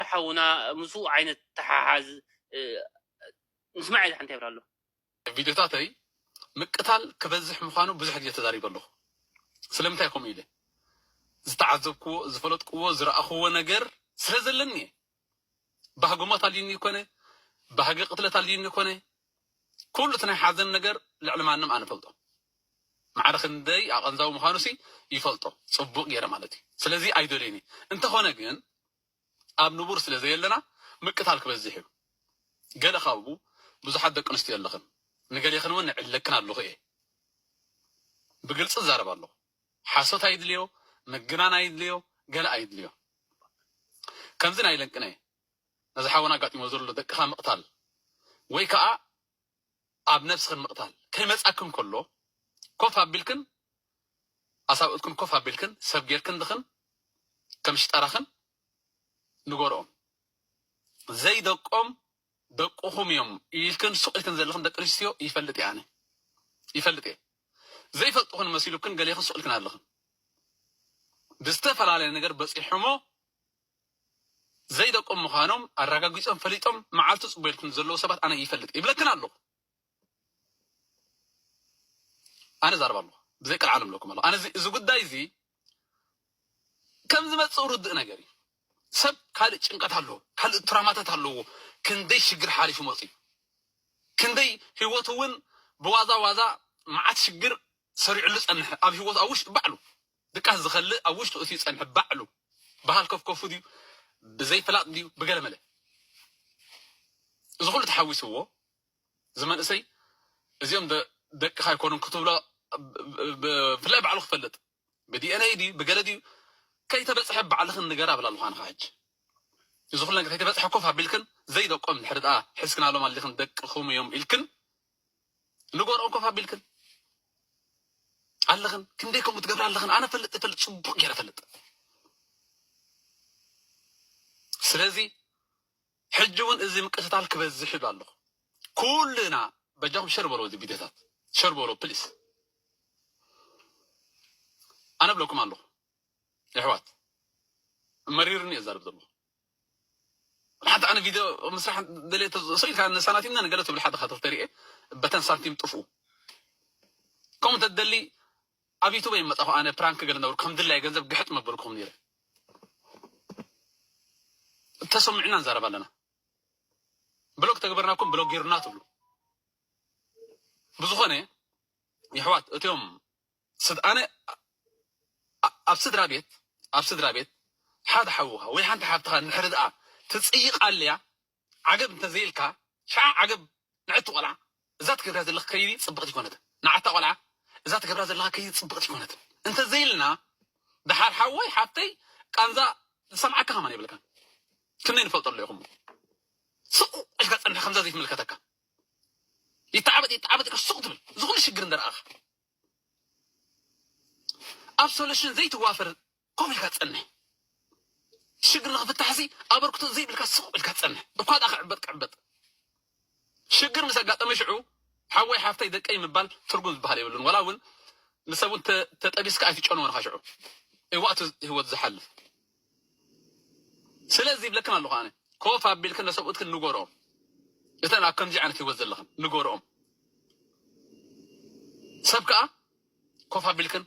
ኣንታ ሓውና ምስኡ ዓይነት ተሓሓዝ ንስማዕ ኢለ ሓንቲ ይብላ ኣለኹ። ኣብ ቪድዮታተይ ምቅታል ክበዝሕ ምዃኑ ብዙሕ ግዜ ተዛሪበ ኣለኹ። ስለምንታይ ከምኡ ኢለ? ዝተዓዘብክዎ፣ ዝፈለጥክዎ፣ ዝረኣኽዎ ነገር ስለ ዘለኒ እየ። ባህጊ ሞት ኣልዩኒ ኣይኮነ፣ ባህጊ ቅትለት ኣልዩኒ ኣይኮነ፣ ኩሉ እቲ ናይ ሓዘን ነገር ልዕሊ ማንም ኣነ እፈልጦ። ማዕረ ክንደይ ኣቐንዛዊ ምዃኑሲ ይፈልጦ ጽቡቕ ገይረ ማለት እዩ። ስለዚ ኣይደልዮን እየ። እንተኾነ ግን ኣብ ንቡር ስለ ዘየለና ምቅታል ክበዝሕ እዩ። ገለ ካብኡ ብዙሓት ደቂ ኣንስትዮ ኣለኽን ንገሌኽን እውን እዕለክን ኣለኹ እየ። ብግልፂ እዛረብ ኣለኹ። ሓሶት ኣይድልዮ፣ ምግናን ኣይድልዮ፣ ገለ ኣይድልዮ። ከምዚ ናይ ለንቅነ ነዚ ሓወና ኣጋጢሞ ዘሎ ደቅኻ ምቕታል ወይ ከዓ ኣብ ነብስኽን ምቕታል ከይመጻክን ከሎ ኮፍ ኣቢልክን ኣሳብኡትክን ኮፍ ኣቢልክን ሰብ ጌርክንልኽን ከም ሽጣራኽን ንገርኦም ዘይ ደቆም ደቁኹም እዮም ኢልክን ሱቕ ኢልክን ዘለኽን ደቂ ኣንስትዮ ይፈልጥ እየ ኣነ ይፈልጥ እየ ዘይፈልጥኽን መሲሉክን ገሌኽን ሱቕ ኢልክን ኣለኽን ብዝተፈላለየ ነገር በጺሑሞ ዘይደቆም ምዃኖም ኣራጋጊጾም ፈሊጦም መዓልቱ ጽበዩልኩም ዘለዉ ሰባት ኣነ ይፈልጥ ይብለክን ኣለኹ ኣነ ዛርብ ኣለኹ ብዘይ ቀልዓለም እብለኩም ኣለኹ ኣነ እዚ ጉዳይ እዚ ከም ዝመጽእ ርድእ ነገር እዩ ሰብ ካልእ ጭንቀት ኣለዎ ካልእ ትራማታት ኣለዎ ክንደይ ሽግር ሓሊፉ መጽኡ ክንደይ ህይወቱ እውን ብዋዛ ዋዛ መዓት ሽግር ሰሪዑሉ ዝጸንሐ ኣብ ሂወቱ ኣብ ውሽጢ ባዕሉ ድቃስ ዝኸልእ ኣብ ውሽጡ እትዩ ዝጸንሐ ባዕሉ ብሃልከፍከፉ ድዩ ብዘይ ፍላጥ ድዩ ብገለመለ እዚ ኩሉ ተሓዊስዎ እዚ መንእሰይ እዚኦም ደቅኻ ኣይኮኑን ክትብሎ ብፍላይ ባዕሉ ክፈልጥ ብዲኤንኤ ድዩ ብገለ ድዩ ከይተበፅሐ ባዕልኽን ንገር ኣብላ ልዃንኻ ሕጂ እዚ ኩሉ ነገር ከይተበፅሐ ኮፍ ኣቢልክን ዘይደቆም ድሕሪ ድኣ ሕዝክናሎም ኣሊኽን ደቅኹም እዮም ኢልክን ንገርኦም ኮፍ ኣቢልክን ኣለኽን ክንደይ ከምኡ ትገብሪ ኣለኽን ኣነ ፈልጥ ፈልጥ ፅቡቅ ገይረ ፈልጥ ስለዚ ሕጂ እውን እዚ ምቅትታል ክበዝሕ ይብል ኣለኹ ኩልና በጃኹም ሸር በሎ እዚ ቪድዮታት ሸር በሎ ፕሊስ ኣነ ብለኩም ኣለኹ የሕዋት መሪርኒ እዛርብ ዘለኹ ንሓንቲ ኣነ ቪድዮ ምስራሕ ደልየ ሰው ኢልካ ንሳናቲምና ንገለ ትብል ሓደኻ ተሪኤ በተን ሳንቲም ጥፍኡ ከምኡ እንተትደሊ ኣብ ዩቱብ ይመፃኹ ኣነ ፕራንክ ገለ ነበርኩ ከም ድላይ ገንዘብ ግሕጥ መበልኩም ነይረ ተሰሚዕና ንዛረብ ኣለና ብሎግ ተግበርናኩም ብሎግ ጌሩና ትብሉ ብዝኾነ ይሕዋት እትዮም ስድ ኣነ ኣብ ስድራ ቤት ኣብ ስድራ ቤት ሓደ ሓውኻ ወይ ሓንቲ ሓብትኻ እንድሕሪ ድኣ ትጽይቅ ኣልያ ዓገብ እንተ ዘይልካ ሽዓ ዓገብ ንዕቲ ቆልዓ እዛ ትገብርያ ዘለኽ ከይዲ ጽብቅቲ ኣይኮነትን ንዓታ ቆልዓ እዛ ትገብራ ዘለኻ ከይዲ ጽብቅቲ ኣይኮነትን እንተ ዘይልና ድሓር ሓወይ ሓብተይ ቃንዛ ዝሰምዓካ ከማን የብልካን ክንደይ ንፈልጦ ኣሎ ይኹም ስቁ ኢልካ ጸንሕ ከምዛ ዘይትምልከተካ ይተዓበጥ ይተዓበጥ ኢልካ ስቁ ትብል ዝኹሉ ሽግር እንደረኣኻ ኣብ ሶሉሽን ዘይትዋፈር ኮፍ ኢልካ ትጸንሕ ሽግር ንክፍታሕሲ ኣበርክቶ ዘይብልካ ስቕ ኢልካ ትጸንሕ እኳ ድኣ ክዕበጥ ክዕበጥ ሽግር ምስ ኣጋጠመ ሽዑ ሓወይ ሓፍተይ ደቀይ ምባል ትርጉም ዝበሃል የብሉን ዋላ እውን ንሰብ እውን ተጠቢስካ ኣይትጨንዎን ኢኻ ሽዑ እዋእቱ ህይወት ዝሓልፍ ስለዚ ይብለክን ኣለኹ ኣነ ኮፍ ኣቢልክን ለሰብኡትክን ንጎርኦም እተን ኣብ ከምዚ ዓይነት ሂወት ዘለኽን ንጎርኦም ሰብ ከኣ ኮፍ ኣቢልክን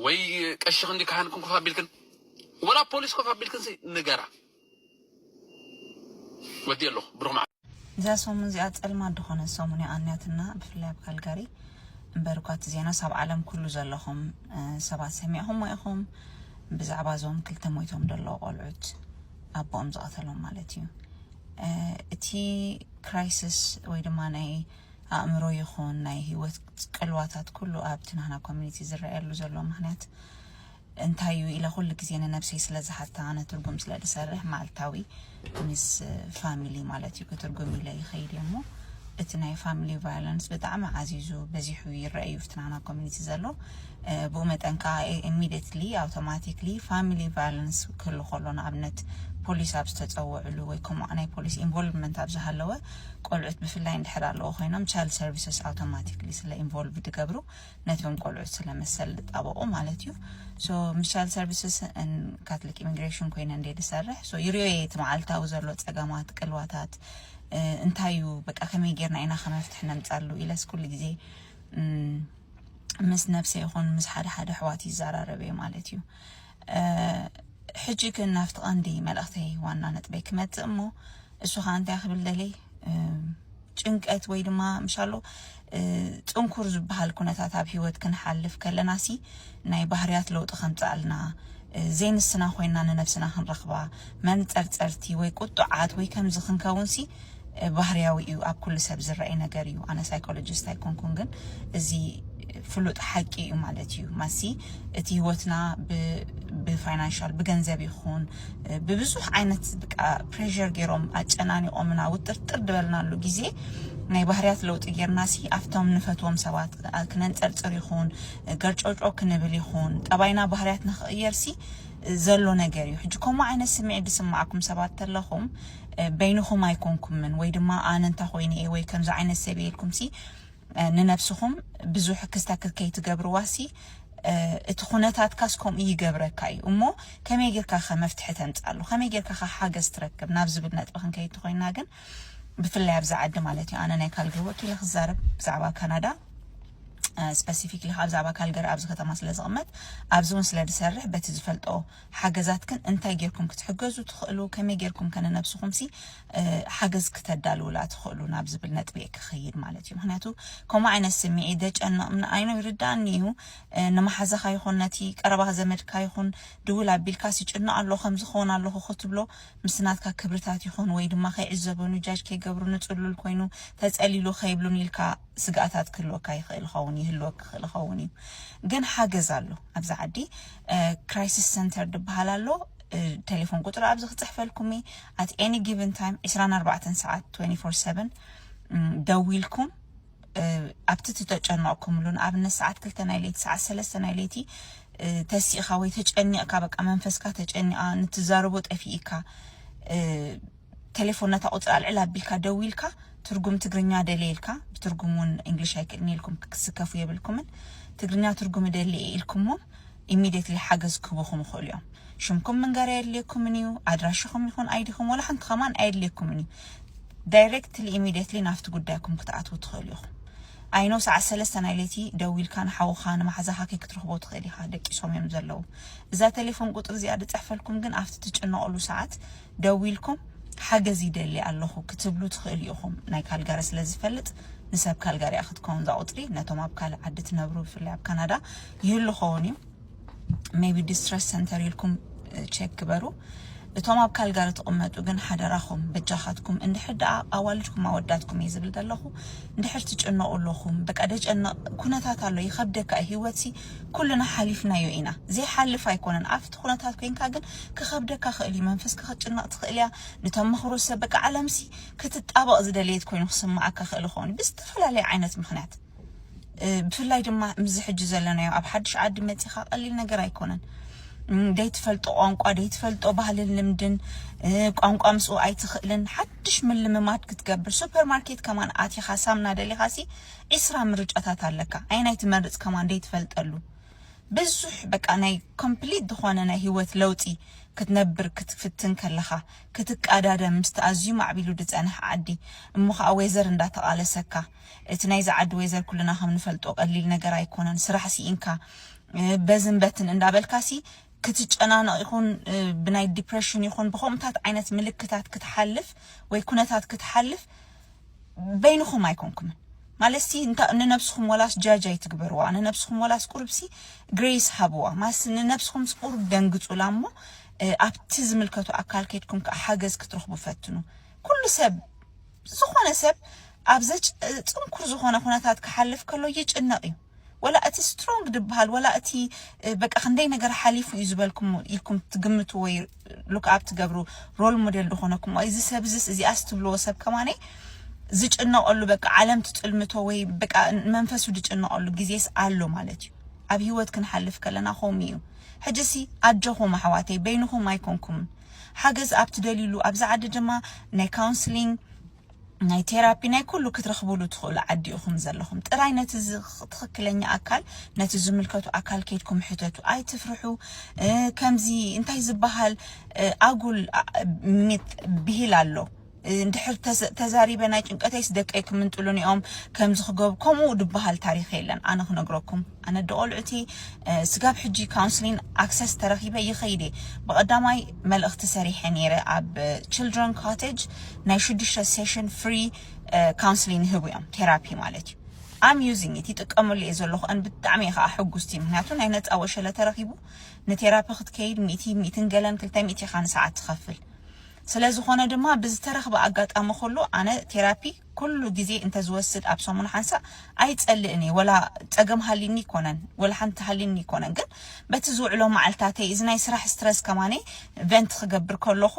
ወይ ቀሽኽን ካህንክን ኮፍ ኣቢልክን ወላ ፖሊስ ኮፍ ኣቢልክን ንገራ ወዲኤ ኣለኹ ብሩኽ መዓልቲ። እዛ ሰሙን እዚኣ ጸልማት ድኾነት ሰሙን እያ ኣንያትና ብፍላይ ኣብ ካልጋሪ እምበር እኳ እቲ ዜናስ ኣብ ዓለም ኩሉ ዘለኹም ሰባት ሰሚዕኹሞ ኢኹም ብዛዕባ እዞም ክልተ ሞይቶም ደለዉ ቆልዑት ኣቦኦም ዝቐተሎም ማለት እዩ እቲ ክራይስስ ወይ ድማ ናይ ኣእምሮ ይኹን ናይ ህይወት ቅልዋታት ኩሉ ኣብቲ ናህና ኮሚኒቲ ዝረኣየሉ ዘሎ ምክንያት እንታይ እዩ ኢለ ኩሉ ግዜ ንነብሰይ ስለ ዝሓታ ኣነ ትርጉም ስለ ዝሰርሕ መዓልታዊ ምስ ፋሚሊ ማለት እዩ ክትርጉም ኢለ ይኸይድ እየ እሞ እቲ ናይ ፋሚሊ ቫዮለንስ ብጣዕሚ ዓዚዙ በዚሑ ይረአ እዩ ፍትናና ኮሚኒቲ ዘሎ ብኡ መጠን ከዓ ኢሚዲየትሊ ኣውቶማቲክሊ ፋሚሊ ቫዮለንስ ክህሉ ከሎ ንኣብነት ፖሊስ ኣብ ዝተፀወዕሉ ወይ ከምኡ ናይ ፖሊስ ኢንቮልቭመንት ኣብ ዝሃለወ ቆልዑት ብፍላይ እንድሕር ኣለዎ ኮይኖም ቻይልድ ሰርቪስስ ኣውቶማቲክሊ ስለ ኢንቮልቭ ድገብሩ ነቶም ቆልዑት ስለ መሰል ዝጣበቑ ማለት እዩ ሶ ምስ ቻይልድ ሰርቪስስ ን ካትሊክ ኢሚግሬሽን ኮይነ እንደ ዝሰርሕ ሶ ይርዮ እየ እቲ መዓልታዊ ዘሎ ጸገማት ቅልዋታት እንታይ እዩ በቃ ከመይ ጌርና ኢና ከመፍትሒ ነምጻሉ ኢለስ ኩሉ ግዜ ምስ ነብሰ ይኹን ምስ ሓደ ሓደ ኣሕዋት ይዘራረብ እየ ማለት እዩ ሕጂ ግን ናብቲ ቀንዲ መልእኽተይ ዋና ነጥበይ ክመጽእ እሞ እሱ ከዓ እንታይ ክብል ደልየ ጭንቀት ወይ ድማ ምሻሎ ፅንኩር ዝበሃል ኩነታት ኣብ ሂወት ክንሓልፍ ከለና ሲ ናይ ባህርያት ለውጢ ከምፅኣልና ዘይንስና ኮይና ንነብስና ክንረኽባ መንፀርፀርቲ ወይ ቁጡዓት ወይ ከምዚ ክንከውን ሲ ባህርያዊ እዩ ኣብ ኩሉ ሰብ ዝረኣይ ነገር እዩ ኣነ ሳይኮሎጂስት ኣይኮንኩን ግን እዚ ፍሉጥ ሓቂ እዩ ማለት እዩ ማሲ እቲ ህይወትና ብፋይናንሻል ብገንዘብ ይኹን ብብዙሕ ዓይነት ብቃ ፕሬር ገይሮም ኣጨናኒቆምና ውጥርጥር ድበልናሉ ግዜ ናይ ባህርያት ለውጢ ጌርና ሲ ኣብቶም ንፈትዎም ሰባት ክነንፀርፅር ይኹን ገርጮጮ ክንብል ይኹን ጠባይና ባህርያትና ክቕየር ሲ ዘሎ ነገር እዩ ሕጂ ከምኡ ዓይነት ስምዒት ዝስማዓኩም ሰባት ተለኹም በይንኹም ኣይኮንኩምን ወይ ድማ ኣነ እንተ ኾይነ እየ ወይ ከምዚ ዓይነት ሰብ እየ ኢልኩምሲ ንነብስኹም ብዙሕ ክስተክል ከይትገብርዋሲ እቲ ኩነታትካስ ከምኡ ይገብረካ እዩ እሞ ከመይ ጌርካ ከ መፍትሒ ተምጻሉ ከመይ ጌርካ ከ ሓገዝ ትረክብ ናብ ዝብል ነጥቢ ክንከይድ እንተኮይና ግን ብፍላይ ኣብዚ ዓዲ ማለት እዩ ኣነ ናይ ካልግሪ ወኪለ ክዛረብ ብዛዕባ ካናዳ ስፐሲፊክሊ ካብ ዛዕባ ካልገሪ ኣብዚ ከተማ ስለ ዝቕመጥ ኣብዚ እውን ስለ ዝሰርሕ በቲ ዝፈልጦ ሓገዛትክን እንታይ ጌርኩም ክትሕገዙ ትኽእሉ፣ ከመይ ጌርኩምከ ንነብስኹምሲ ሓገዝ ክተዳልዉላ ትኽእሉ ናብ ዝብል ነጥቢ'የ ክኸይድ ማለት እዩ። ምኽንያቱ ከምኡ ዓይነት ስምዒት ዘጨንቕ ምንኣይኑ ይርድኣኒ እዩ። ንመሓዛኻ ይኹን ነቲ ቀረባ ዘመድካ ይኹን ድውል ኣቢልካስ ይጭኖ ኣሎ ከምዚ ክኾን ኣለኹ ክትብሎ ምስ ናትካ ክብርታት ይኹን ወይ ድማ ከይዕዘበኑ ጃጅ ከይገብሩኒ ጽሉል ኮይኑ ተጸሊሉ ከይብሉኒ ኢልካ ስግኣታት ክህልወካ ይኽእል ይኸውን ይህልወክ ክኽእል ይኸውን እዩ። ግን ሓገዝ ኣሎ። ኣብዚ ዓዲ ክራይሲስ ሰንተር ድበሃል ኣሎ ቴሌፎን ቁፅሪ ኣብዚ ክፅሕፈልኩም እየ ኣት ኤኒ ጊቨን ታይም 24 ሰዓት 24/7 ደዊልኩም ኣብቲ ትተጨነቕኩምሉ ንኣብነት ሰዓት ክልተ ናይ ለይቲ ሰዓት ሰለስተ ናይ ለይቲ ተሲእኻ ወይ ተጨኒቕካ በቃ መንፈስካ ተጨኒቓ ንትዛረቦ ጠፊኢካ ቴሌፎን ነታ ቁጽሪ ኣልዕል ኣቢልካ ደዊልካ ትርጉም ትግርኛ ደልየ ኢልካ ብትርጉም ውን እንግሊሽ ኣይክእልን ኢልኩም ክትስከፉ የብልኩምን ትግርኛ ትርጉም እደሊ እየ ኢልኩሞም ኢሚዴትሊ ሓገዝ ክህቡኹም ይኽእሉ እዮም ሽምኩም ምንጋር ኣየድልየኩምን እዩ ኣድራሽኹም ይኹን ኣይዲኹም ወላ ሓንቲ ከማን ኣየድልየኩምን እዩ ዳይሬክትሊ ኢሚዴትሊ ናፍቲ ጉዳይኩም ክትኣትዉ ትኽእሉ ኢኹም ኣይኖ ሰዓት ሰለስተ ናይ ለይቲ ደዊልካ ንሓውኻ ንማሕዛኻ ከይክትረኽቦ ትኽእል ኢኻ ደቂሶም እዮም ዘለዉ እዛ ቴሌፎን ቁጽሪ እዚኣ ድጽሕፈልኩም ግን ኣብቲ ትጭነቕሉ ሰዓት ደዊልኩም ሓገዝ ይደሊ ኣለኹ ክትብሉ ትኽእሉ ኢኹም። ናይ ካልጋሪ ስለ ዝፈልጥ ንሰብ ካልጋሪ እያ ክትከውን እዛ ቁጽሪ ነቶም ኣብ ካልእ ዓዲ ትነብሩ ብፍላይ ኣብ ካናዳ ይህሉ ኸውን እዩ። ሜቢ ዲስትረስ ሰንተር ኢልኩም ቼክ ግበሩ። እቶም ኣብ ካልጋሪ ትቕመጡ ግን ሓደራኹም በጃኻትኩም እንድሕር ደኣ ኣዋልድኩም ኣወዳትኩም እየ ዝብል ዘለኹ እንድሕር ትጭነቑ ኣለኹም በቃ ደጨነቕ ኩነታት ኣሎ ይኸብደካ እዩ ህይወትሲ ኩልና ሓሊፍናዮ ኢና ዘይሓልፍ ኣይኮነን ኣብቲ ኩነታት ኮይንካ ግን ክከብደካ ክእል እዩ መንፈስካ ክትጭነቅ ትክእል እያ ንተመክሮ ሰብ በቃ ዓለምሲ ክትጣበቅ ዝደለየት ኮይኑ ክስመዓካ ክእል ይከውን ብዝተፈላለየ ዓይነት ምክንያት ብፍላይ ድማ ምዚ ሕጂ ዘለናዮ ኣብ ሓድሽ ዓዲ መጺኻ ቀሊል ነገር ኣይኮነን ደይትፈልጦ ቋንቋ ደይትፈልጦ ባህልን ልምድን ቋንቋ ምስኡ ኣይትኽእልን ሓድሽ ምልምማድ ክትገብር ሱፐር ማርኬት ከማን ኣቲኻ ሳምና ደሊኻሲ ዒስራ ምርጫታት ኣለካ ኣየናይ ትመርጽ ከማን ደይትፈልጠሉ ብዙሕ በቃ ናይ ኮምፕሊት ዝኾነ ናይ ሂወት ለውጢ ክትነብር ክትፍትን ከለኻ ክትቃዳደም ምስቲ ኣዝዩ ማዕቢሉ ድጸንሕ ዓዲ እሞ ኸኣ ዌዘር እንዳ ተቓለሰካ እቲ ናይዚ ዓዲ ዌዘር ኩልና ከም ንፈልጦ ቀሊል ነገር ኣይኮነን ስራሕ ሲኢንካ በዝን በትን እንዳ በልካሲ ክትጨናነቕ ይኹን ብናይ ዲፕረሽን ይኹን ብኸምኡታት ዓይነት ምልክታት ክትሓልፍ ወይ ኩነታት ክትሓልፍ በይንኹም ኣይኮንኩምን ማለትሲ እንታ ንነብስኹም ወላስ ጃጅ ኣይትግበርዋ ንነብስኹም ወላስ ቁርብሲ ግሬስ ሃብዋ ማለትሲ ንነብስኹምስ ቁሩብ ደንግጹላ እሞ ኣብቲ ዝምልከቱ ኣካል ከድኩም ከኣ ሓገዝ ክትረኽቡ ፈትኑ ኩሉ ሰብ ዝኾነ ሰብ ኣብ ዘጭ ጽንኩር ዝኾነ ኩነታት ክሓልፍ ከሎ ይጭነቕ እዩ ወላ እቲ ስትሮንግ ድብሃል ወላ እቲ በቃ ክንደይ ነገር ሓሊፉ እዩ ዝበልኩም ኢልኩም ትግምቱ ወይ ሉክ ኣብ ትገብሩ ሮል ሞዴል ዝኾነኩም እዚ ሰብ እዚስ እዚኣስ ትብልዎ ሰብ ከማነይ ዝጭነቐሉ በቃ ዓለም ትጥልምቶ ወይ በቃ መንፈሱ ዝጭነቐሉ ግዜስ ኣሎ ማለት እዩ ኣብ ሂወት ክንሓልፍ ከለና ከምኡ እዩ ሕጂሲ ኣጆኹም ኣሕዋተይ በይንኹም ኣይኮንኩምን ሓገዝ ኣብ ትደልዩሉ ኣብዚ ዓዲ ድማ ናይ ካውንስሊንግ ናይ ቴራፒ ናይ ኩሉ ክትረኽቡሉ ትኽእሉ ዓዲ ኢኹም ዘለኹም ጥራይ ነቲ ትኽክለኛ ኣካል ነቲ ዝምልከቱ ኣካል ኬድኩም ሕተቱ ኣይትፍርሑ ከምዚ እንታይ ዝበሃል ኣጉል ሚት ብሂል ኣሎ እንድሕር ተዛሪበ ናይ ጭንቀተይስ ደቀይ ክምንጥሉኒ እዮም ከምዚ ክገብ ከምኡ ድበሃል ታሪኽ የለን ኣነ ክነግረኩም ኣነ ኣደ ቆልዑቲ ስጋብ ሕጂ ካውንስሊን ኣክሰስ ተረኪበ ይከይድ እየ ብቀዳማይ መልእክቲ ሰሪሐ ነይረ ኣብ ችልድረን ኮቴጅ ናይ ሽዱሽተ ሴሽን ፍሪ ካውንስሊን ይህቡ እዮም ቴራፒ ማለት እዩ ኣም ዩዚንግ ኢት ይጥቀመሉ እየ ዘለኹ ን ብጣዕሚ እየ ከዓ ሕጉስቲ ምክንያቱ ናይ ነፃ ወሸለ ተረኪቡ ንቴራፒ ክትከይድ ሚእቲ ሚእትን ገለን ክልተ ሚእቲ ኢካ ንሰዓት ትከፍል ስለዝኾነ ድማ ብዝተረክበ ኣጋጣሚ ኩሉ ኣነ ቴራፒ ኩሉ ግዜ እንተ ዝወስድ ኣብ ሰሙን ሓንሳእ ኣይጸልእን እየ ወላ ጸገም ሃልዩኒ ኣይኮነን ወላ ሓንቲ ሃልዩኒ ኣይኮነን ግን በቲ ዝውዕሎ መዓልታተይ እዚ ናይ ስራሕ ስትረስ ከማነይ ቨንት ክገብር ከለኹ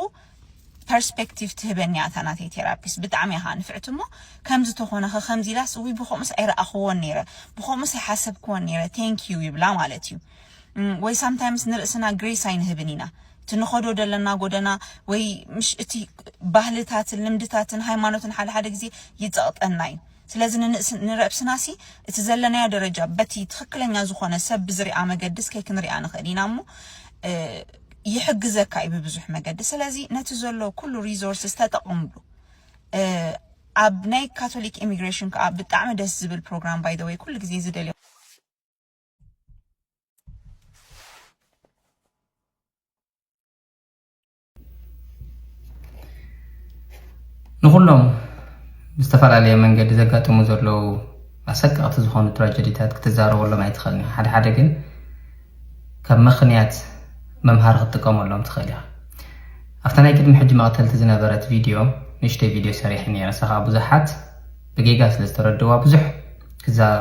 ፐርስፐክቲቭ ትህበኒ እያ እታ ናተይ ቴራፒስት ብጣዕሚ እያ ከኣ ንፍዕቲ እሞ ከምዚ ተኾነኸ ከምዚ ኢላስ እውይ ብከምኡስ ኣይረኣኽዎን ነይረ ብከምኡስ ኣይሓሰብክዎን ነይረ ቴንክ ዩ ይብላ ማለት እዩ ወይ ሳምታይምስ ንርእስና ግሬስ ኣይንህብን ኢና እቲ ንኸዶ ደለና ጎደና ወይ ምሽ እቲ ባህልታትን ልምድታትን ሃይማኖትን ሓደ ሓደ ግዜ ይጸቕጠና እዩ ስለዚ ንንእስ ንረብስናሲ እቲ ዘለናዮ ደረጃ በቲ ትኽክለኛ ዝኾነ ሰብ ብዝርኣ መገድስ ከይክንርኣ ንኽእል ኢና እሞ ይሕግዘካ እዩ ብብዙሕ መገዲ ስለዚ ነቲ ዘሎ ኩሉ ሪዞርስስ ተጠቕምሉ ኣብ ናይ ካቶሊክ ኢሚግሬሽን ከዓ ብጣዕሚ ደስ ዝብል ፕሮግራም ባይ ዘ ወይ ኩሉ ግዜ ዝደልዮ ንኹሎም ዝተፈላለየ መንገዲ ዘጋጥሙ ዘለዉ ኣሰቀቕቲ ዝኾኑ ትራጀዲታት ክትዛረበሎም ኣይትኽእልን ኢኻ ሓደ ሓደ ግን ካብ ምኽንያት መምሃሪ ክትጥቀመሎም ትኽእል ኢኻ ኣብታ ናይ ቅድሚ ሕጂ መቕተልቲ ዝነበረት ቪድዮ ንእሽተይ ቪድዮ ሰሪሐ ነረ ንሳ ከዓ ብዙሓት ብጌጋ ስለ ዝተረድእዋ ብዙሕ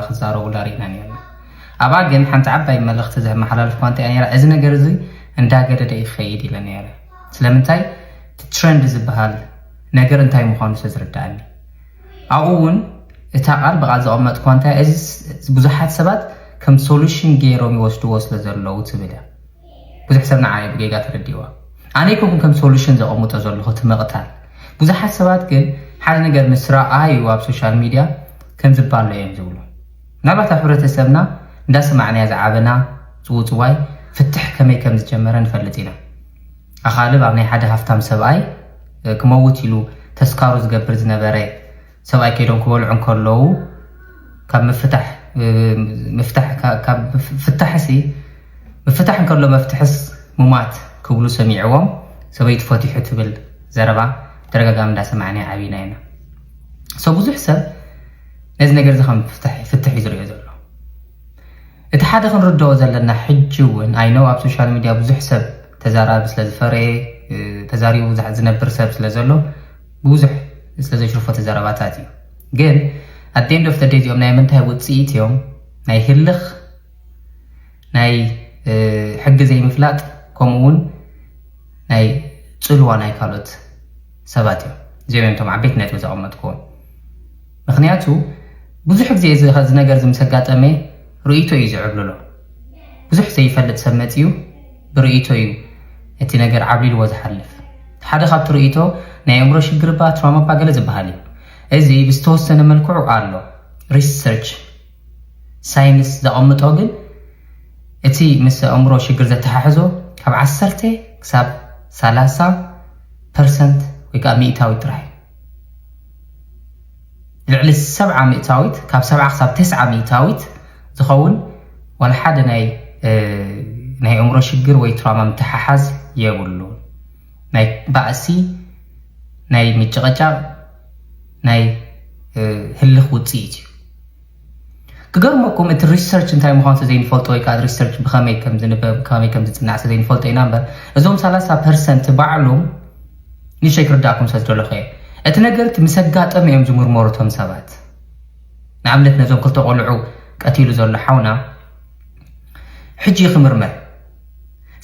ክዛረቡላ ርኢና ኔርና። ኣብኣ ግን ሓንቲ ዓባይ መልእኽቲ ዘመሓላለፍኩዋ እንታይ እያ ኔራ፣ እዚ ነገር እዚ እንዳገደደ እዩ ክኸይድ ኢለ ኔረ። ስለምንታይ እቲ ትረንድ ዝበሃል ነገር እንታይ ምዃኑ ስለ ዝርድኣኒ። ኣብኡ እውን እታ ቃል ብቓል ዘቐመጥኩዋ እንታይ እያ፣ እዚ ብዙሓት ሰባት ከም ሶሉሽን ገይሮም ይወስድዎ ስለ ዘለዉ ትብል እያ። ብዙሕ ሰብ ንዓ እየ ብጌጋ ተረዲእዋ ኣነ ኣይኮንኩን ከም ሶሉሽን ዘቐምጦ ዘለኹ እቲ ምቕታል ብዙሓት ሰባት ግን ሓደ ነገር ምስ ረኣዩ ኣብ ሶሻል ሚድያ ከም ዝባሎ እዮም ዝብሉ ምናልባት ኣብ ሕብረተሰብና እንዳሰማዕናያ ዝዓበና ጽውጽዋይ ፍትሕ ከመይ ከም ዝጀመረ ንፈልጥ ኢና ኣኻልብ ኣብ ናይ ሓደ ሃፍታም ሰብኣይ ክመውት ኢሉ ተስካሩ ዝገብር ዝነበረ ሰብኣይ ከይዶም ክበልዑ እንከለዉ ካብ ምፍታሕ ምፍታሕ ካብ ፍታሕሲ ምፍታሕ እንከሎ መፍትሕስ ሙማት ክብሉ ሰሚዕዎም ሰበይቱ ፈቲሑ ትብል ዘረባ ተደጋጋሚ እንዳሰማዕና ዓብና ኢና ሰው ብዙሕ ሰብ ነዚ ነገር እዚ ከም ፍትሕ እዩ ዝሪኦ ዘሎ እቲ ሓደ ክንርድኦ ዘለና ሕጂ እውን ኣይነው ኣብ ሶሻል ሚድያ ብዙሕ ሰብ ተዛራቢ ስለ ዝፈረየ ተዛሪቡ ዝነብር ሰብ ስለ ዘሎ ብዙሕ ስለ ዘይሽርፈቱ ዘረባታት እዩ ግን at the end of the day እዚኦም ናይ ምንታይ ውፅኢት እዮም ናይ ህልኽ ናይ ሕጊ ዘይምፍላጥ ከምኡ እውን ናይ ፅልዋ ናይ ካልኦት ሰባት እዮም እዚኦም እዮም እቶም ዓበይቲ ነጥቢ ዘቐመጥኩዎም ምክንያቱ ብዙሕ ግዜ እዚ ነገር እዚ ምስ ኣጋጠመ ርእይቶ እዩ ዝዕብልሎ ብዙሕ ዘይፈልጥ ሰብ መፅዩ ብርእይቶ እዩ እቲ ነገር ዓብሊልዎ ዝሓልፍ። ሓደ ካብቲ ርእይቶ ናይ ኣእምሮ ሽግር እባ ትራውማ እባ ገለ ዝበሃል እዩ። እዚ ብዝተወሰነ መልክዑ ኣሎ። ሪሰርች ሳይንስ ዘቐምጦ ግን እቲ ምስ ኣእምሮ ሽግር ዘተሓሕዞ ካብ ዓሰርተ ክሳብ ሰላሳ ፐርሰንት ወይ ከዓ ሚእታዊት ጥራሕ እዩ። ልዕሊ ሰብዓ ሚእታዊት ካብ ሰብዓ ክሳብ ተስዓ ሚእታዊት ዝኸውን ዋላ ሓደ ናይ ናይ ኣእምሮ ሽግር ወይ ትራማ ምትሓሓዝ የብሉ ናይ ባእሲ ናይ ምጭቐጫቕ ናይ ህልኽ ውፅኢት እዩ ክገርመኩም እቲ ሪሰርች እንታይ ምዃኑ ተዘይንፈልጦ ወይ ከዓ ሪሰርች ብኸመይ ከም ዝንበብ ብኸመይ ከም ዝፅናዕ ተዘይንፈልጦ ኢና እምበር እዞም ሰላሳ ፐርሰንት ባዕሎም ንሸይ ክርዳእኩም ስለ ዝደለኹ እየ እቲ ነገርቲ ምስ ኣጋጠመ እዮም ዝምርመሩ እቶም ሰባት ንኣብነት ነዞም ክልተ ቆልዑ ቀቲሉ ዘሎ ሓውና ሕጂ ክምርመር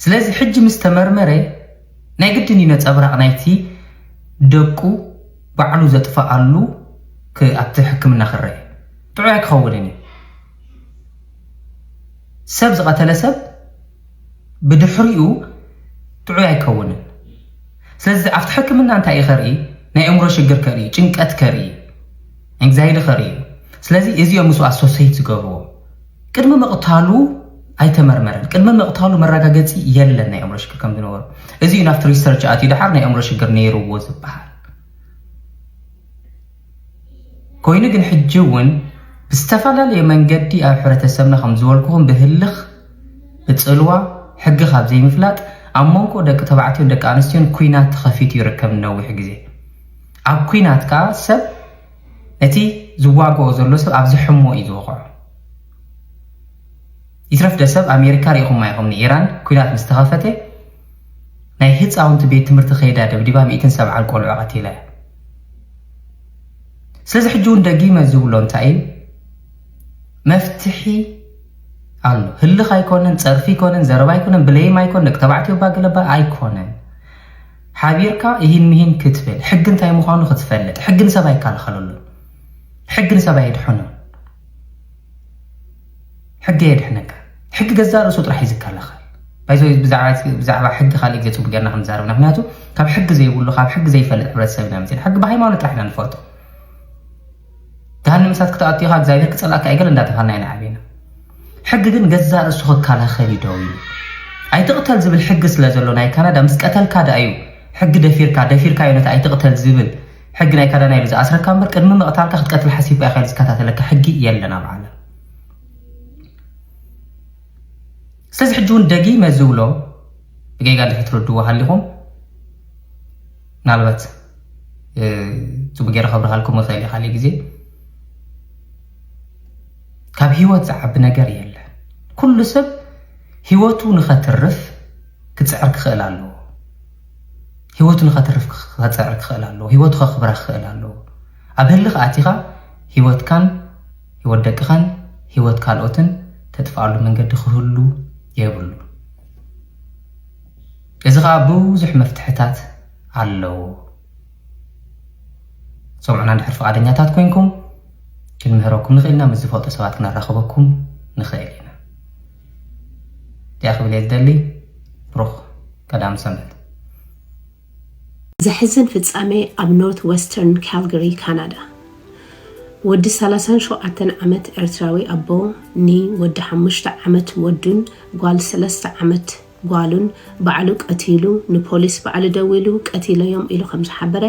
ስለዚ ሕጂ ምስ ተመርመረ ናይ ግድን እዩ ነፀብራቕ ናይቲ ደቁ ባዕሉ ዘጥፋኣሉ ክ ኣብቲ ሕክምና ክረኤ ጥዑይ ኣይክኸውንን እዩ ሰብ ዝቐተለ ሰብ ብድሕሪኡ ጥዑይ ኣይከውንን ስለዚ ኣብቲ ሕክምና እንታይ እዩ ከርኢ ናይ እምሮ ሽግር ከርኢ ጭንቀት ከርኢ ኤንግዛይቲ ከርኢ ስለዚ እዚኦም ምስ ኣሶሰይት ዝገብርዎ ቅድሚ ምቕታሉ ኣይተመርመረን ቅድሚ ምቕታሉ መረጋገፂ የለን ናይ ኣእምሮ ሽግር ከም ዝነበሩ እዚ እዩ ናብቲ ሪሰርች ኣትዩ ድሓር ናይ ኣእምሮ ሽግር ነይርዎ ዝበሃል ኮይኑ ግን ሕጂ እውን ብዝተፈላለየ መንገዲ ኣብ ሕብረተሰብና ከም ዝበልኩኹም ብህልኽ ብፅልዋ ሕጊ ካብ ዘይምፍላጥ ኣብ መንጎ ደቂ ተባዕትዮን ደቂ ኣንስትዮን ኩናት ተኸፊቱ ይርከብ ንነዊሕ ግዜ ኣብ ኩናት ከዓ ሰብ እቲ ዝዋገኦ ዘሎ ሰብ ኣብ ዝሕሞ እዩ ዝወቕዖ። ይትረፍ ደሰብ ኣሜሪካ ሪኢኹማ ኢኹም ንኢራን ኩናት ምስ ተኸፈተ ናይ ህፃውንቲ ቤት ትምህርቲ ከይዳ ደብዲባ ሚእትን ሰብዓን ቆልዑ ቀቲላ እያ። ስለዚ ሕጂ እውን ደጊመ ዝብሎ እንታይ እዩ መፍትሒ ኣሎ ህልኽ ኣይኮነን ፀርፊ ኣይኮነን ዘረባ ኣይኮነን ብለይም ኣይኮነን ደቂ ተባዕትዮ ባገለባ ኣይኮነን ሓቢርካ እሂን ምሂን ክትብል፣ ሕጊ እንታይ ምዃኑ ክትፈልጥ፣ ሕጊ ንሰብ ኣይከላኸለሉን፣ ሕጊ ንሰብ ኣየድሕኖን፣ ሕጊ ኣየድሕነካን፣ ሕጊ ገዛእ ርእሱ ጥራሕ እዩ ዝከላኸል። ባይ ዘ ወይ ብዛዕባ እቲ ብዛዕባ ሕጊ ካልእ ግዜ ጽቡቕ ጌርና ክንዛረብ ኢና፣ ምኽንያቱ ካብ ሕጊ ዘይብሉ ካብ ሕጊ ዘይፈልጥ ሕብረተሰብ ኢና መጺእና፣ ሕጊ ብሃይማኖት ጥራሕ ኢና ንፈልጦ። ገሃነም እሳት ክትኣቱ ኢኻ እግዚኣብሔር ክጸልኣካ እዩ ገለ እንዳተባሃልና ኢና ዓቢና ሕጊ ግን ገዛእ ርእሱ ክከላኸል እዩ ደው ኢሉ ኣይትቕተል ዝብል ሕጊ ስለ ዘሎ ናይ ካናዳ ምስ ቀተልካ ደኣ እዩ ሕጊ ደፊርካ ደፊርካ እዩ ነቲ ኣይትቕተል ዝብል ሕጊ ናይ ካዳና ኢሉ ዝኣስረካ እምበር ቅድሚ ምቕታልካ ክትቀትል ሓሲብካ ኢኻ ኢሉ ዝከታተለካ ሕጊ የለን ኣብ ዓለም ስለዚ ሕጂ እውን ደጊመ ዝብሎ ብጌጋ እንድሕር ትርድዎ ሃሊኹም ምናልባት ፅቡቅ ገይረ ከብርሃልኩም ይኽእል እየ ካሊእ ግዜ ካብ ሂወት ዝዓቢ ነገር የለ ኩሉ ሰብ ሂወቱ ንኸትርፍ ክፅዕር ክኽእል ኣለዎ ሂወቱ ንኸትርፍ ክፅዕር ክኽእል ኣለዎ ሂወቱ ከኽብራ ክኽእል ኣለዎ ኣብ ህልኽ ኣቲኻ ሂወትካን ሂወት ደቅኻን ሂወት ካልኦትን ተጥፍኣሉ መንገዲ ክህሉ የብሉ እዚ ከኣ ብዙሕ መፍትሕታት ኣለዎ። ሰምዑና እንድሕር ፍቓደኛታት ኮይንኩም ክንምህረኩም ንኽእል ኢና፣ ምስ ዝፈልጡ ሰባት ክነራኽበኩም ንኽእል ኢና። እዚኣ ክብል እየ ዝደሊ። ብሩኽ ቀዳም ሰንበት። ዘሕዝን ፍጻሜ ኣብ ኖርት ወስተርን ካልጋሪ ካናዳ። ወዲ ሰላሳን ሸውዓተን ዓመት ኤርትራዊ ኣቦ ን ወዲ ሓሙሽተ ዓመት ወዱን ጓል ሰለስተ ዓመት ጓሉን ባዕሉ ቀቲሉ ንፖሊስ ባዕሉ ደዊሉ ቀቲለዮም ኢሉ ከም ዝሓበረ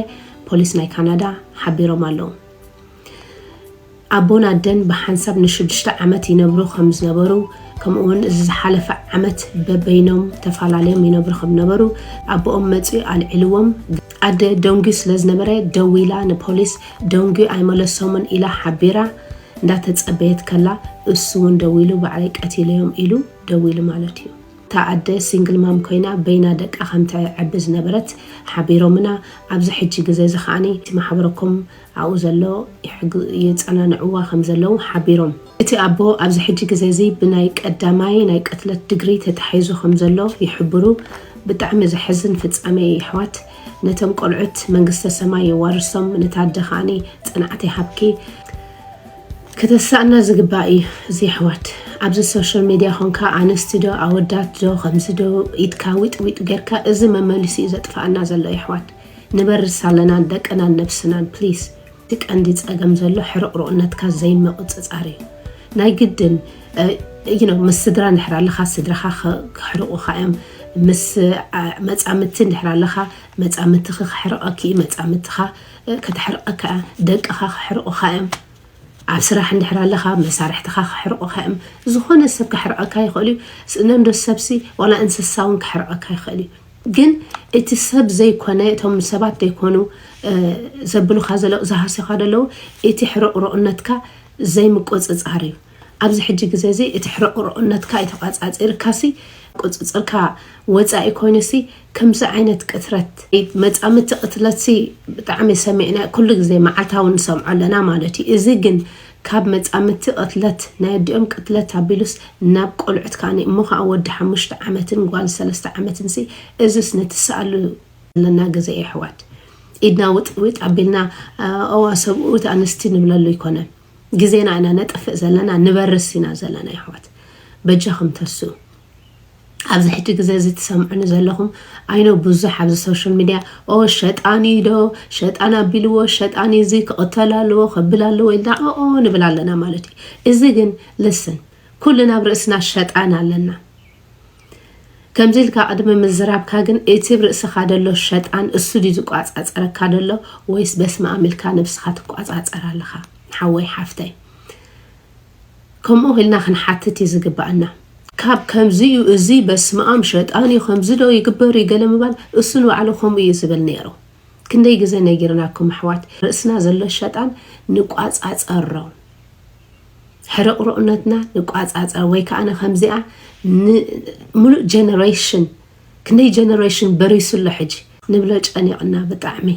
ፖሊስ ናይ ካናዳ ሓቢሮም ኣለዉ። ኣቦን ኣደን ብሓንሳብ ንሽዱሽተ ዓመት ይነብሩ ከም ዝነበሩ ከምኡ'ውን እዚ ዝሓለፈ ዓመት በበይኖም ተፈላለዮም ይነብሩ ከም ዝነበሩ ኣቦኦም መጺኡ ኣልዒልዎም፣ ኣደ ደንጒ ስለ ዝነበረ ደዊላ ንፖሊስ ደንጒ ኣይመለሶምን ኢላ ሓቢራ እንዳተጸበየት ከላ እሱ'ውን ደዊሉ ባዕለይ ቀቲለዮም ኢሉ። ደው ኢሉ ማለት እዩ። እታ ኣደ ሲንግል ማም ኮይና በይና ደቃ ከም ተዕቢ ዝነበረት ሓቢሮምና ኣብዚ ሕጂ ግዘ እዚ ከኣ እቲ ማሕበረኮም ኣብኡ ዘሎ የጸናንዕዋ ከም ዘለዉ ሓቢሮም። እቲ ኣቦ ኣብዚ ሕጂ ግዘ እዚ ብናይ ቀዳማይ ናይ ቅትለት ድግሪ ተታሒዙ ከም ዘሎ ይሕብሩ። ብጣዕሚ ዘሕዝን ፍጻሜ እዩ የሕዋት። ነቶም ቆልዑት መንግስተ ሰማይ የዋርሶም ነታ ኣደ ከኣ ጽንዓት ይሃብኪ። ከተሳእና ዝግባእ እዩ እዚ የሕዋት ኣብዚ ሶሸል ሜድያ ኮንካ ኣንስቲ ዶ ኣወዳት ዶ ከምዚ ዶ ኢድካ ዊጥ ዊጥ ገርካ እዚ መመሊሱ እዩ ዘጥፋኣና ዘሎ የሕዋት ንበርስ ኣለና ንደቅናን ነብስናን ፕሊስ እቲ ቀንዲ ጸገም ዘሎ ሕርቕሩቕነትካ ዘይምቕጽጻር እዩ ናይ ግድን you know ምስ ስድራ እንድሕር ኣለኻ ስድራኻ ክሕርቑኻ እዮም ምስ መጻምድቲ እንድሕር ኣለኻ መጻምድትኺ ክሕርቐኪ እዩ መጻምድትኻ ከተሕርቐካ እያ፣ ደቅኻ ከሕርቑኻ እዮም፣ ኣብ ስራሕ እንድሕር ኣለኻ መሳርሕትኻ ከሕርቑኻ እዮም፣ ዝኾነ ሰብ ከሕርቐካ ይኽእል እዩ፣ ስእነንዶ ሰብሲ ዋላ እንስሳ እውን ከሕርቐካ ይኽእል እዩ፣ ግን እቲ ሰብ ዘይኮነ እቶም ሰባት ዘይኮኑ ዘብሉኻ ዘለዉ ዝሃስዩኻ ዘለዉ እቲ ሕርቑሩቕነትካ ዘይምቁፅፃር እዩ፣ ኣብዚ ሕጂ ግዜ'ዚ እቲ ሕርቕሩቕነትካ ኢተቛጻጺርካሲ ቁጽጽርካ ወጻኢ ኮይኑሲ ከምዚ ዓይነት ቅትረት መጻምድቲ ቅትለትሲ ብጣዕሚ ሰሚዕና ኩሉ ግዜ መዓልታዊ ንሰምዖ ኣለና ማለት እዩ እዚ ግን ካብ መጻምድቲ ቅትለት ናይ ኣዲኦም ቅትለት ኣቢሉስ ናብ ቆልዑት ከኣ እሞ ከኣ ወዲ ሓሙሽተ ዓመትን ጓል ሰለስተ ዓመትንሲ እዝስ ንትሰኣሉ ዘለና ግዜ የሕዋት ኢድና ውጥጥ ዊጥ ኣቢልና ኣዋ ሰብኡት ኣንስቲ ንብለሉ ኣይኮነን። ግዜና ኢና ነጥፍእ ዘለና ንበርስ ኢና ዘለና የሕዋት በጃኩም ተስኡ ኣብዚ ሕጂ ግዜ እዚ ትሰምዑኒ ዘለኹም ኣይኖ ብዙሕ ኣብዚ ሶሻል ሚድያ ኦ ሸጣን እዩ ዶ ሸጣን ኣቢልዎ ሸጣን እዚ ክቕተል ኣለዎ ከብል ኣለዎ ኢልና ኦ ንብል ኣለና ማለት እዩ እዚ ግን ልስን ኩልና ኣብ ርእስና ሸጣን ኣለና ከምዚ ኢልካ ቅድሚ ምዝራብካ ግን እቲ ብ ርእስኻ ደሎ ሸጣን እሱ ድዩ ዝቋጻጸረካ ደሎ ወይስ በስማኣም ኢልካ ነብስኻ ትቋጻጸር ኣለኻ ሓወይ ሓፍተይ ከምኡ ኢልና ክንሓትት እዩ ዝግባኣና ካብ ከምዚ እዩ እዚ በስማኣም ሸጣን እዩ ከምዚ ዶ ይግበር እዩ ገለ ምባል እሱ ንባዕሉ ከምኡ እዩ ዝብል ነይሩ ክንደይ ግዜ ነጊርናኩም ኣሕዋት ርእስና ዘሎ ሸጣን ንቋጻጸሮ ሕርቕሩቕነትና ንቋፃፀር ወይ ከዓ ከምዚኣ ሙሉእ ጀነሬሽን ክንደይ ጀነሬሽን በሪሱ ኣሎ ሕጂ ንብሎ ጨኒቕና ብጣዕሚ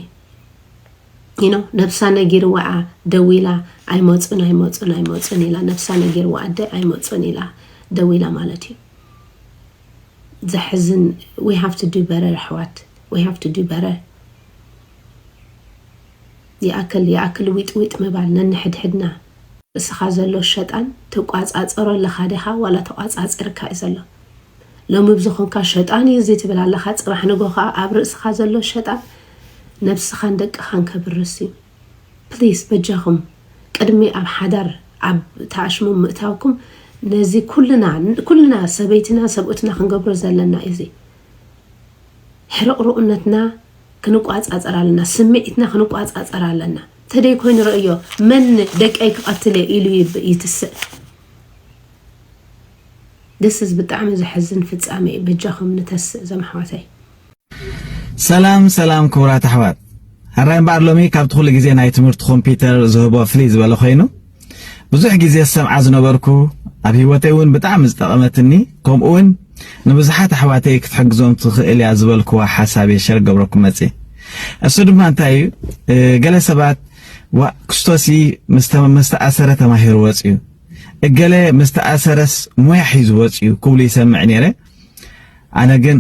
ይኖ ነብሳ ነጊርዋ ደዊላ ኣይመፁን ኣይመፁን ኣይመፁን ኢላ ነብሳ ነጊርዋ ኣደ ኣይመፁን ኢላ ደዊላ ማለት እዩ ዘሕዝን ዊ ሃቭ ቱ ዱ በረር ኣሕዋት ዊ ሃቭ ቱ ዱ በረር ይኣክል ይኣክል ዊጥዊጥ ምባል ነንሕድሕድና እስኻ ዘሎ ሸጣን ትቋጻጸሮ ኣለኻ ዲኻ ዋላ ተቋጻጺርካ እዩ ዘሎ ሎሚ ብዝኾንካ ሸጣን እዩ እዚ ትብል ኣለኻ ጽባሕ ንግሆ ከኣ ኣብ ርእስኻ ዘሎ ሸጣን ነብስኻን ደቅኻን ከብርስ እዩ ፕሊስ በጃኹም ቅድሚ ኣብ ሓዳር ኣብ ተኣሽሙ ምእታውኩም ነዚ ኩልና ኩልና ሰበይትና ሰብኡትና ክንገብሮ ዘለና እዩ እዚ ሕርቕርኡነትና ክንቋጻጸር ኣለና ስሚዒትና ክንቋጻጸር ኣለና ተደይ ኮይኑ ረእዮ መን ደቀይ ክቐትል እየ ኢሉ ይትስእ ደስዝ ብጣዕሚ ዘሕዝን ፍጻሜ እዩ በጃኹም ንተስእ ዘም ኣሕዋተይ ሰላም ሰላም ክቡራት ኣሕዋት ሀራይ እምበኣር ሎሚ ካብቲ ኩሉ ግዜ ናይ ትምህርቲ ኮምፒውተር ዝህቦ ፍልይ ዝበለ ኮይኑ ብዙሕ ግዜ ዝሰምዓ ዝነበርኩ ኣብ ሂወተይ እውን ብጣዕሚ ዝጠቐመትኒ ከምኡ እውን ንብዙሓት ኣሕዋተይ ክትሕግዞም ትኽእል እያ ዝበልክዋ ሓሳብ እየ ሸር ገብረኩም መፅ እሱ ድማ እንታይ እዩ ገለ ሰባት ዋ ክስቶሲ ምስተኣሰረ ተማሂሩ ወፅዩ እገለ ምስተኣሰረስ ሞያ ሒዙ ወፅዩ ክብሉ ይሰምዕ ነይረ ኣነ ግን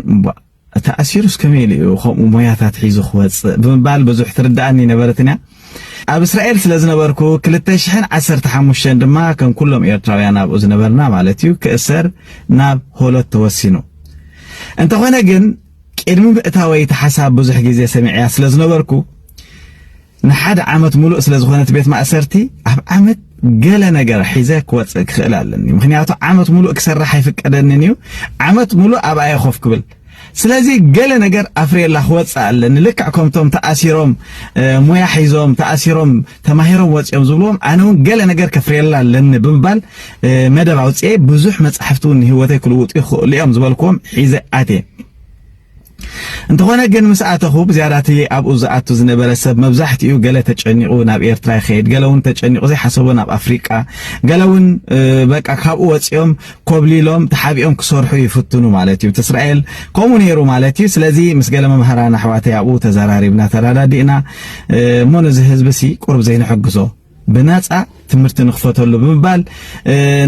ተኣሲሩስ ከመይ ኢሉ እዩ ከምኡ ሞያታት ሒዙ ክወጽእ? ብምባል ብዙሕ ትርድኣኒ ኣይነበረትን እያ። ኣብ እስራኤል ስለ ዝነበርኩ ክልተ ሽሕን ዓሰርተ ሓሙሽተን ድማ ከም ኩሎም ኤርትራውያን ኣብኡ ዝነበርና ማለት እዩ ክእሰር ናብ ሆሎት ተወሲኑ። እንተኾነ ግን ቅድሚ ምእታወይ እቲ ሓሳብ ብዙሕ ግዜ ሰሚዐያ ስለ ዝነበርኩ ንሓደ ዓመት ሙሉእ ስለ ዝኾነ እቲ ቤት ማእሰርቲ ኣብ ዓመት ገለ ነገር ሒዘ ክወጽእ ክኽእል ኣለኒ፣ ምኽንያቱ ዓመት ሙሉእ ክሰርሕ ኣይፍቀደንን እዩ፣ ዓመት ሙሉእ ኣብኣ እየ ኮፍ ክብል ስለዚ ገለ ነገር ኣፍርየላ ክወፅእ ኣለኒ ልክዕ ከምቶም ተኣሲሮም ሙያ ሒዞም ተኣሲሮም ተማሂሮም ወፂኦም ዝብልዎም ኣነ እውን ገለ ነገር ከፍርየላ ኣለኒ ብምባል መደብ ኣውፅኤ ብዙሕ መፃሕፍቲ እውን ንሂወተይ ክልውጡ ይኽእሉ እዮም ዝበልክዎም ሒዘ ኣትየ እንተኾነ ግን ምስ ኣተኹ ብዝያዳ እቲ ኣብኡ ዝኣቱ ዝነበረ ሰብ መብዛሕትኡ ገለ ተጨኒቑ ናብ ኤርትራ ይኸይድ፣ ገለ እውን ተጨኒቑ ዘይሓሰቦ ናብ ኣፍሪቃ፣ ገለ እውን በቃ ካብኡ ወጺኦም ኮብሊሎም ተሓቢኦም ክሰርሑ ይፍትኑ ማለት እዩ። እስራኤል ከምኡ ነይሩ ማለት እዩ። ስለዚ ምስ ገለ መምህራን ኣሕዋተይ ኣብኡ ተዘራሪብና ተረዳዲእና እሞ ነዚ ህዝቢ ሲ ቁርብ ዘይንሕግዞ ብናጻ ትምህርቲ ንክፈተሉ ብምባል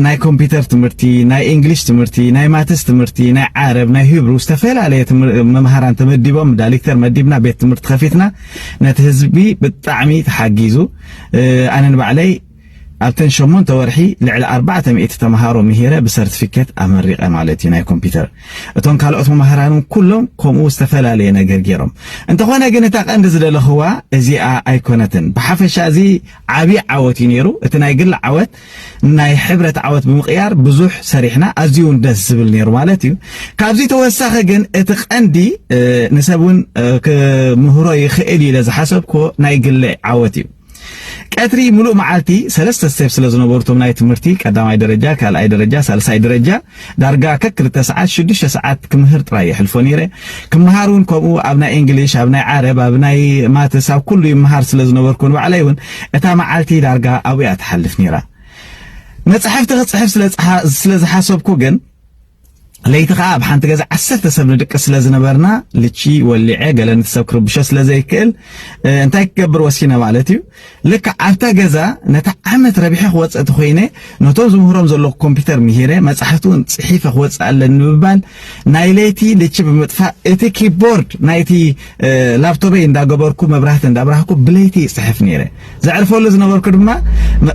ናይ ኮምፒተር ትምህርቲ፣ ናይ እንግሊሽ ትምህርቲ፣ ናይ ማትስ ትምህርቲ፣ ናይ ዓረብ፣ ናይ ሂብሩ ዝተፈላለየ መምሃራን ተመዲቦም ዳሊክተር መዲብና ቤት ትምህርቲ ከፊትና ነቲ ህዝቢ ብጣዕሚ ተሓጊዙ ኣነ ንባዕለይ ኣብተን ሸሞንተ ወርሒ ልዕሊ ኣርባዕተ ሚእቲ ተምሃሮ ምሂረ ብሰርቲፊኬት ኣመሪቐ ማለት እዩ ናይ ኮምፒተር እቶም ካልኦት መማህራን እውን ኩሎም ከምኡ ዝተፈላለየ ነገር ገይሮም እንተኾነ ግን እታ ቀንዲ ዝደለኽዋ እዚኣ ኣይኮነትን ብሓፈሻ እዚ ዓብዪ ዓወት እዩ ነይሩ እቲ ናይ ግሊ ዓወት ናይ ሕብረት ዓወት ብምቕያር ብዙሕ ሰሪሕና ኣዝዩ እውን ደስ ዝብል ነይሩ ማለት እዩ ካብዚ ተወሳኺ ግን እቲ ቀንዲ ንሰብ እውን ክምህሮ ይኽእል ኢለ ዝሓሰብክዎ ናይ ግሊ ዓወት እዩ ቀትሪ ምሉእ መዓልቲ ሰለስተ ስቴፕ ስለ ዝነበሩ እቶም ናይ ትምህርቲ ቀዳማይ ደረጃ፣ ካልኣይ ደረጃ፣ ሳልሳይ ደረጃ ዳርጋ ከክልተ ሰዓት ሽዱሽተ ሰዓት ክምህር ጥራይ የሕልፎ ነይረ። ክመሃር እውን ከምኡ ኣብ ናይ እንግሊሽ፣ ኣብ ናይ ዓረብ፣ ኣብ ናይ ማትስ ኣብ ኩሉ ይመሃር ስለ ዝነበርኩ ንባዕለይ እውን እታ መዓልቲ ዳርጋ ኣብኡ እያ ትሓልፍ ነይራ። መጻሕፍቲ ክጽሕፍ ስለ ዝሓሰብኩ ግን ለይቲ ከኣ ኣብ ሓንቲ ገዛ ዓሰርተ ሰብ ንድቅስ ስለ ዝነበርና ልቺ ወሊዐ ገለ ነቲ ሰብ ክርብሾ ስለ ዘይክእል እንታይ ክገብር ወሲነ ማለት እዩ ልክዕ ኣብታ ገዛ ነቲ ዓመት ረቢሐ ክወፅእ እቲ ኮይነ ነቶም ዝምህሮም ዘለኹ ኮምፒተር ምሂረ መፃሕፍቲ እውን ፅሒፈ ክወፅእ ኣለኒ ብምባል ናይ ለይቲ ልቺ ብምጥፋእ እቲ ኪቦርድ ናይቲ ላፕቶበይ እንዳገበርኩ መብራህቲ እንዳብራህኩ ብለይቲ ይጽሕፍ ነይረ ዘዕርፈሉ ዝነበርኩ ድማ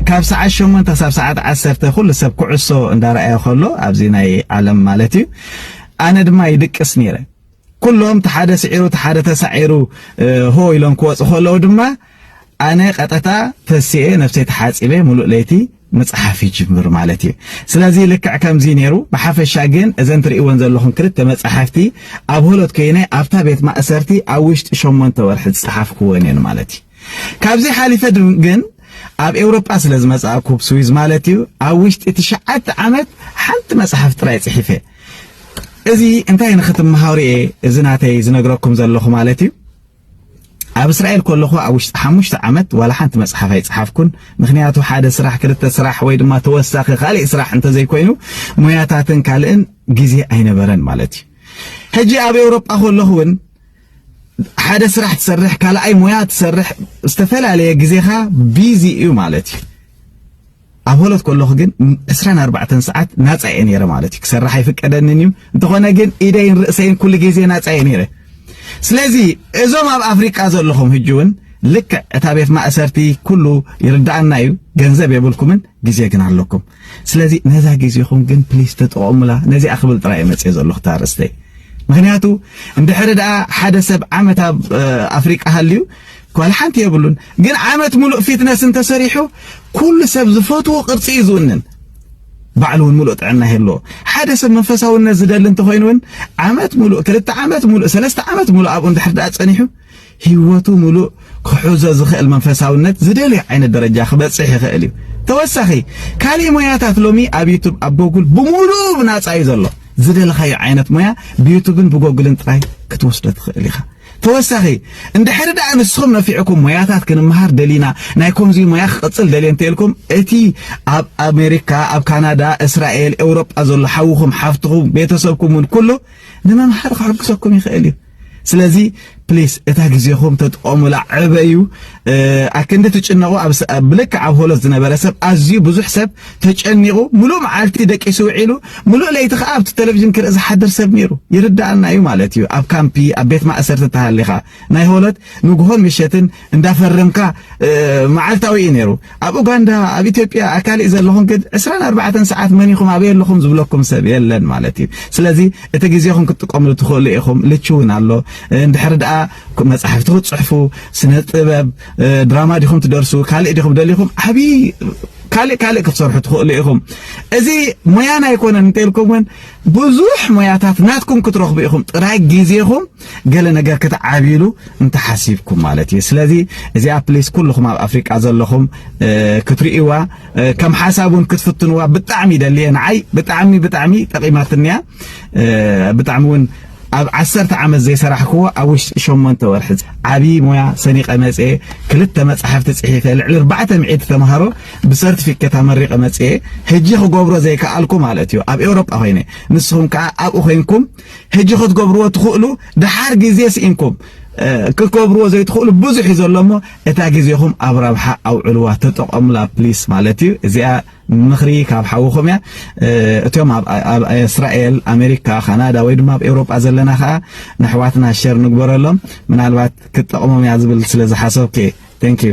ካብ ሰዓት 8 ክሳብ ሰዓት 10 ኩሉ ሰብ ኩዕሶ እንዳረኣየ ከሎ ኣብዚ ናይ ዓለም ማለት እዩ ኣነ ድማ ይድቅስ ነይረ ኩሎም ተሓደ ስዒሩ ተሓደ ተሳዒሩ ሆ ኢሎም ክወጹ ከለዉ ድማ ኣነ ቀጠታ ተሲኤ ነፍሰይ ተሓጺበ ሙሉእ ለይቲ ምጽሓፍ ይጅምር ማለት እዩ። ስለዚ ልክዕ ከምዚ ነይሩ። ብሓፈሻ ግን እዘን ትርእይወን ዘለኹም ክልተ መጻሕፍቲ ኣብ ሆሎት ኮይነ ኣብታ ቤት ማእሰርቲ ኣብ ውሽጢ ሸሞንተ ወርሒ ዝጸሓፍኩወን እየን ማለት እዩ። ካብዚ ሓሊፈ ግን ኣብ ኤውሮጳ ስለ ዝመጻእኩ ስዊዝ ማለት እዩ ኣብ ውሽጢ ትሽዓተ ዓመት ሓንቲ መጽሓፍ ጥራይ ጽሒፈ እዚ እንታይ ንክትመሃሩ እየ እዚ ናተይ ዝነግረኩም ዘለኹ ማለት እዩ። ኣብ እስራኤል ከለኹ ኣብ ውሽጢ ሓሙሽተ ዓመት ዋላ ሓንቲ መጽሓፍ ኣይጸሓፍኩን። ምክንያቱ ሓደ ስራሕ ክልተ ስራሕ ወይ ድማ ተወሳኺ ካልእ ስራሕ እንተዘይኮይኑ ሞያታትን ካልእን ግዜ ኣይነበረን ማለት እዩ። ሕጂ ኣብ ኤውሮጳ ከለኹ እውን ሓደ ስራሕ ትሰርሕ፣ ካልኣይ ሞያ ትሰርሕ፣ ዝተፈላለየ ግዜኻ ቢዚ እዩ ማለት እዩ። ኣብ ሆሎት ከለኹ ግን ዕስራን ኣርባዕተን ሰዓት ናጻ እየ ነይረ ማለት እዩ። ክሰርሕ ኣይፍቀደንን እዩ። እንተኾነ ግን ኢደይን ርእሰይን ኩሉ ግዜ ናጻ እየ ነይረ። ስለዚ እዞም ኣብ ኣፍሪቃ ዘለኹም ሕጂ እውን ልክዕ እታ ቤት ማእሰርቲ ኩሉ ይርዳኣና እዩ፣ ገንዘብ የብልኩምን፣ ግዜ ግን ኣለኩም። ስለዚ ነዛ ግዜኹም ግን ፕሊስ ተጠቐሙላ። ነዚኣ ክብል ጥራይ መጽእ ዘለኹ ታርእስተይ ምክንያቱ እንድሕሪ ደኣ ሓደ ሰብ ዓመት ኣብ ኣፍሪቃ ሃልዩ ጓል ሓንቲ የብሉን ግን ዓመት ሙሉእ ፊትነስ እንተሰሪሑ ኩሉ ሰብ ዝፈትዎ ቅርጺ እዩ ዝውንን ባዕሉ እውን ሙሉእ ጥዕና ይህልዎ ሓደ ሰብ መንፈሳውነት ዝደሊ እንተኾይኑ እውን ዓመት ሙሉእ ክልተ ዓመት ሙሉእ ሰለስተ ዓመት ሙሉእ ኣብኡ እንድሕር ድኣ ጸኒሑ ህይወቱ ሙሉእ ክሕዞ ዝኽእል መንፈሳውነት ዝደልዮ ዓይነት ደረጃ ክበጽሕ ይኽእል እዩ ተወሳኺ ካልእ ሞያታት ሎሚ ኣብ ዩቱብ ኣብ ጎጉል ብሙሉእ ብናጻ እዩ ዘሎ ዝደለኻዮ ዓይነት ሞያ ብዩቱብን ብጎግልን ጥራይ ክትወስዶ ትኽእል ኢኻ ተወሳኺ እንድሕሪ ደኣ ንስኹም ነፊዕኩም ሞያታት ክንመሃር ደሊና ናይ ኮምዚ ሞያ ክቕጽል ደልየ እንተልኩም እቲ ኣብ ኣሜሪካ ኣብ ካናዳ እስራኤል ኤውሮጳ ዘሎ ሓውኹም ሓፍትኹም ቤተሰብኩም እውን ኩሉ ንምምሃር ክሕግዘኩም ይኽእል እዩ ስለዚ ፕሊስ እታ ግዜኹም ተጥቀሙላ ዕበዩ ኣክንዲ ትጭነቑ ብልክዕ ኣብ ሆሎት ዝነበረ ሰብ ኣዝዩ ብዙሕ ሰብ ተጨኒቑ ሙሉእ መዓልቲ ደቂሱ ውዒሉ ሙሉእ ለይቲ ከዓ ኣብቲ ቴሌቪዥን ክርኢ ዝሓድር ሰብ ነይሩ ይርዳኣና እዩ ማለት እዩ ኣብ ካምፒ ኣብ ቤት ማእሰርቲ ተሃሊኻ ናይ ሆሎት ንግሆን ምሸትን እንዳፈረምካ መዓልታዊ እዩ ነይሩ ኣብ ኡጋንዳ ኣብ ኢትዮጵያ ኣካሊእ ዘለኹም ግን ዕስራን ኣርባዕተን ሰዓት መን ኢኹም ኣበይ ኣለኹም ዝብለኩም ሰብ የለን ማለት እዩ ስለዚ እቲ ግዜኹም ክትጥቀምሉ ትኽእሉ ኢኹም ልቺ እውን ኣሎ እንድሕሪ ደኣ መጻሕፍቲ ክትጽሕፉ ስነ ጥበብ ድራማ ዲኹም ትደርሱ ካልእ ዲኹም ደሊኹም ዓብዪ ካልእ ካልእ ክትሰርሑ ትኽእሉ ኢኹም እዚ ሞያን ኣይኮነን እንተኢልኩም እውን ብዙሕ ሞያታት ናትኩም ክትረኽቡ ኢኹም ጥራይ ግዜኹም ገለ ነገር ክትዓብይሉ እንተሓሲብኩም ማለት እዩ ስለዚ እዚኣ ፕሊስ ኩልኹም ኣብ ኣፍሪቃ ዘለኹም ክትርእይዋ ከም ሓሳብ እውን ክትፍትንዋ ብጣዕሚ ይደልየ ንዓይ ብጣዕሚ ብጣዕሚ ጠቂማትንያ ብጣዕሚ እውን ኣብ ዓሰርተ ዓመት ዘይሰራሕክዎ ኣብ ውሽጢ ሸሞንተ ወርሒ ዓብዪ ሞያ ሰኒቀ መፀ ክልተ መፅሓፍቲ ፅሒፈ ልዕሊ ኣርባዕተ ሚዕቲ ተምሃሮ ብሰርቲፊኬት ኣመሪቀ መፅየ ሕጂ ክገብሮ ዘይከኣልኩ ማለት እዩ ኣብ ኤውሮጳ ኮይነ ንስኹም ከዓ ኣብኡ ኮይንኩም ሕጂ ክትገብርዎ ትኽእሉ ድሓር ግዜ ስኢንኩም ክትገብርዎ ዘይትኽእሉ ብዙሕ እዩ ዘሎ እሞ እታ ግዜኹም ኣብ ረብሓ ኣውዕልዋ ተጠቐሙላ ፕሊስ ማለት እዩ እዚኣ ምኽሪ ካብ ሓውኹም እያ እቶም ኣብ እስራኤል ኣሜሪካ ካናዳ ወይ ድማ ኣብ ኤውሮጳ ዘለና ከዓ ንኣሕዋትና ሸር ንግበረሎም ምናልባት ክትጠቕሞም እያ ዝብል ስለ ዝሓሰብኩ እዩ ቴንክ ዩ